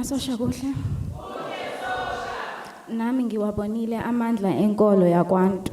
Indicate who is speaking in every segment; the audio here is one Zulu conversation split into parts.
Speaker 1: Masosha kuhle. Nami ngiwabonile amandla enkolo yakwantu.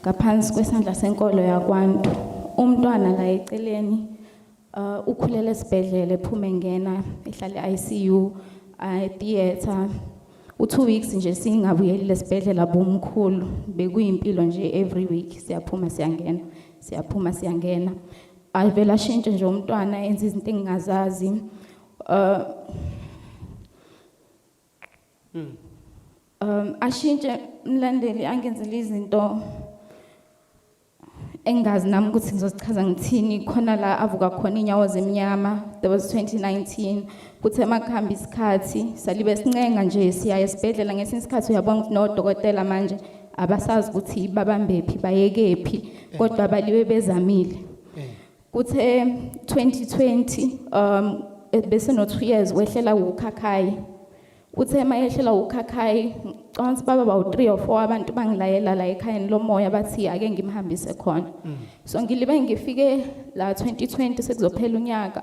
Speaker 1: ngaphansi kwesandla senkolo yakwantu umntwana la eceleni uh, ukhulele esibhedlela ephume ngena ehlale ICU uh, theater u2 weeks nje singabuyeli lesibhedlela bomkhulu bekuyimpilo nje every week siyaphuma siyangena siyaphuma siyangena avela shintshe nje umntwana enza izinto engingazazi uh, Mm. Um ashintshe umlandeli angenzele izinto engazi nami ukuthi ngizozichaza ngithini khona la avuka khona inyawo zemnyama that was 2019 kuthe makuhamba isikhathi salibe sincenga nje siya esibhedlela ngesinye isikhathi uyabona ukuthi nodokotela manje abasazi ukuthi babambephi bayekephi kodwa baliwe bezamile Kuthe 2020 um bese no 2 years wehlela ukhakhayi. Uthe mayehlela ukhakhayi ngicabanga ukuthi baba bawu 3 or 4 abantu bangilayela la ekhayeni lomoya bathi ake ngimhambise khona. So ngilibe ngifike la 2020 sekuzophela unyaka.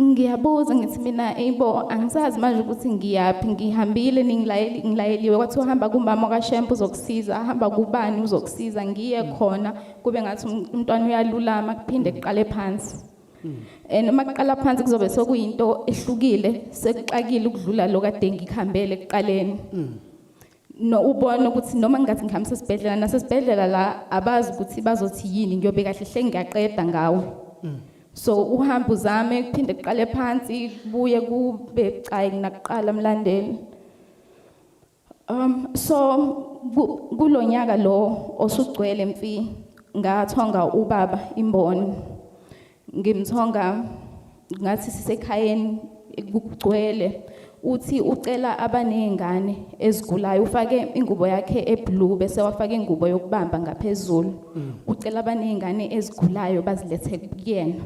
Speaker 2: ngiyabuza
Speaker 1: ngithi mina eyibo angisazi manje ukuthi ngiyaphi ngihambile ngilayeliwe kwathiwa hamba kumama kashemp uzokusiza hamba kubani uzokusiza ngiye khona kube ngathi um, umntwana uyalulama kuphinde kuqale phansi and uma kuqala phansi kuzobe sekuyinto ehlukile sekuxakile ukudlula lo kade ngikuhambele ekuqaleni no ubona ukuthi noma ngingathi ngihambisa esibhedlela nasesibhedlela la abazi ukuthi bazothi yini ngiyobe kahle hle ngiyaqeda ngawo so uhamba uzame kuphinde kuqale phansi kubuye kube cayi nginakuqala mlandeli um so kulonyaka lo osugcwele mfi ngathonga ubaba imboni ngimthonga ngathi sisekhayeni kugcwele uthi ucela abanezingane ezigulayo ufake ingubo yakhe eblue bese wafaka ingubo yokubamba ngaphezulu mm. ucela abanezingane ezigulayo bazilethe kuyena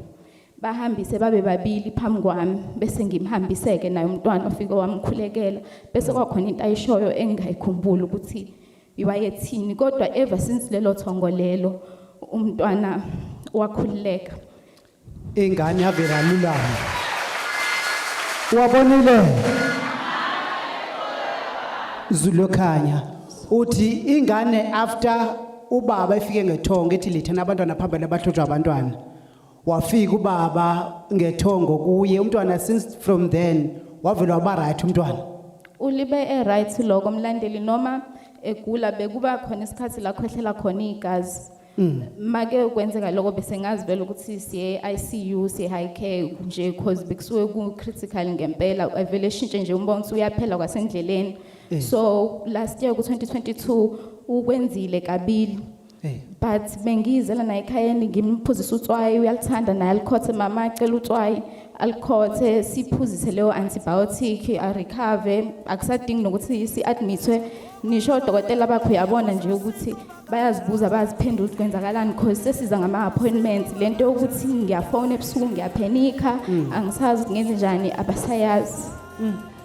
Speaker 1: bahambise babe babili phambi kwami bese ngimhambiseke naye umntwana ofike wamkhulekela bese kwakhona into ayishoyo engingayikhumbuli ukuthi iwayethini kodwa ever since lelo thongo lelo umntwana wakhululeka
Speaker 2: ingane yavela lulama wabonile zulokhanya uthi ingane after ubaba efike ngethongo ethi lithana abantwana phambili abahlotshwa abantwana wafika ubaba ngethongo kuye umntwana since from then wavele waba right umntwana ulibe
Speaker 1: e-right loko mlandeli noma egula bekuba khona isikhathi la khwehlela khona igazi mm. make kwenzeka loko bese ngazi vele ukuthi siye ICU siye high care nje because bekusuke ku critical ngempela avele shintshe nje umbona ukuthi uyaphela kwasendleleni eh. so last year ku 2022 ukwenzile kabili Eh. but bengiyizela naye ekhayeni ngimphuzisa utswayi uyalithanda naye alikhothe mama acela utswayi alikhothe siphuzise leyo antibiotic arecover akusadingi nokuthi si-admithwe nisho odokotela bakho uyabona nje ukuthi bayazibuza bayaziphendula ukuthi kwenzakalani because sesiza ngama-appointments le nto yokuthi ngiyafona ebusuku ngiyaphenikha angisazi ngenze njani abasayazi